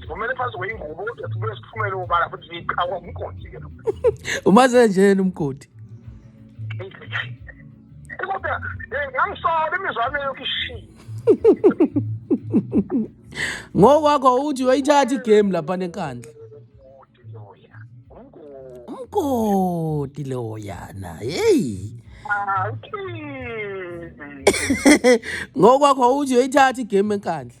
sivumele phansi kweyingubo kodwa sibuye siphumele ubala futhi siyiqhawa umgodi ke lo umaze nje yena umgodi kodwa eh, ngangisola imizwa yami yokho ishiye ngokwakho uthi uyayithatha igame lapha nenkandla umgodi loyana heyi ngokwakho uthi uyayithatha igame enkandla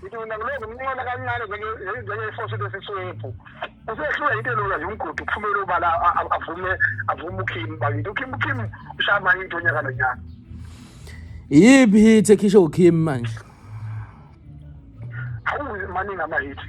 ngithi mina ngilokhu ngimncola kancane njengefosi lesiswephu usehlula into elula nje umgodi kuphumele ubala avume avume ukhim bakithi ukhim ukhim ushaya mayinto onyaka nonyaka iyiphi hit ekhishwe ukhim manje hawu maningi amahithi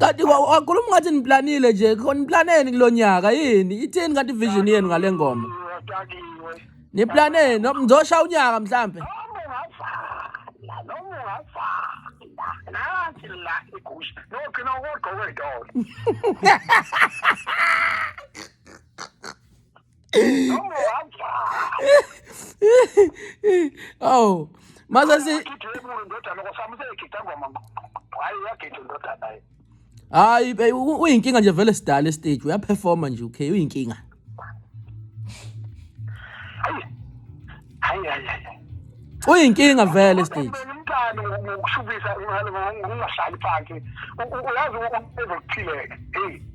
kanti wa- wakhuluma ngathi niplanile nje khona niplaneni kulo nyaka yini ithini kanti vision yenu ngale ngoma Dakiwe, dakiwe. niplaneni noma nizosha unyaka mhlampe Noma ungavala, noma ungavala. Nansi la igusha. Nogcina ukugqoka idolo. awu mase si hayi be- u- uyinkinga nje vele sidala estage uyaperforma nje okay uyinkinga uyinkinga vele estage umntana ngokushubisa ngokungahlali phansi uyazi ubezokuphileka eyi